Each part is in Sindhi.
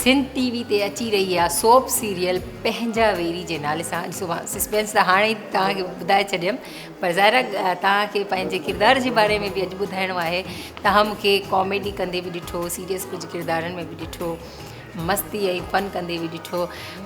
سنڌ ٽي وي تي اچي رهي اها سوپ سيريل پنهنجا ويري جي نالي سان اڄ صبح سسپينس ته هاڻي توهان کي ٻڌائي ڇڏيم پر ظاهرا توهان کي پنهنجي ڪردار جي باري ۾ به اڄ ٻڌائڻو آهي توهان مون کي ڪاميڊي ڪندي به ڏٺو سيريس ڪجهه ڪردارن ۾ به ڏٺو مستي ۽ فن ڪندي به ڏٺو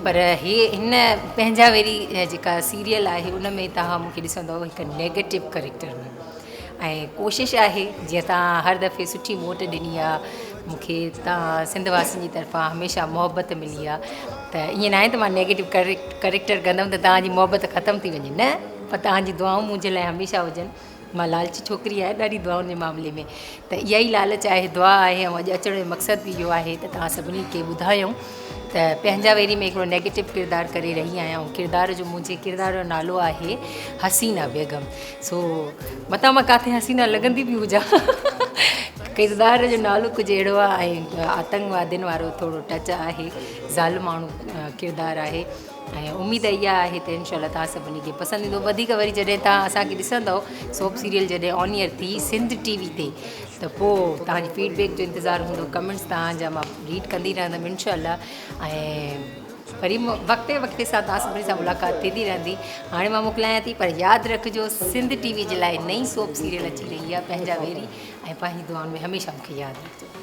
پر هي هن پنهنجا ويري جيڪا سيريل آهي ان ۾ توهان مون کي ڏسندو هڪ نيگيٽو ڪريڪٽر ۾ ۽ ڪوشش آهي جيئن توهان هر دفعي سٺي ووٽ ڏني آ مون کي توهان سنڌ واسين جي طرفان هميشه محبت ملي آ ته ائين ناهي ته مان نيگيٽو ڪريڪٽر ڪندم ته توهان جي محبت ختم ٿي وڃي نه پر توهان جي دعائون منهنجي لاء هميشه هجن مان لالچي ڇوڪري آهيان ڏاڍي دعائن جي معاملي ۾ ته اها ئي لالچ آهي، دعا آهي ۽ اڄ اچڻ جو مقصد به اهو آهي ته توهان سڀني کي ٻڌايون ته پنهنجا ويري ۾ هڪڙو نيگيٽو ڪردار ڪري رهي آهيان ۽ ڪردار جو منهنجي ڪردار جو نالو آهي حسينا بيگم سو متان مان ڪاٿي حسينا لڳندي به هجان ڪردار جو نالو ڪجهه اهڙو آهي ۽ آتنڪوادين وارو ٿورو ٽچ آهي ظالم ماڻهو ڪردار آهي ۽ اميد اها آهي ته انشاء الله توهان سڀني کي پسند ايندو وڌيڪ وري جڏهن توهان اسان کي ڏسندو سوپ سيريل جڏهن آن ايئر ٿي سنڌ ٽي وي تي ته پو توهان جي فيڊ بيڪ جو انتظار هوندو ڪمينٽس توهان جا مان ريڊ ڪندي رهندم انشاء الله ۽ وري وقتي وقتي سان توهان سڀني سان ملاقات ٿيندي رهندي هاڻي مان موڪلايان ٿي پر ياد رکجو سنڌ ٽي وي جي لاء نئي سوپ سيريل اچي رهي آهي پنهنجا ويري ۽ پنهنجي دعائن ۾ هميشه مون کي ياد رکجو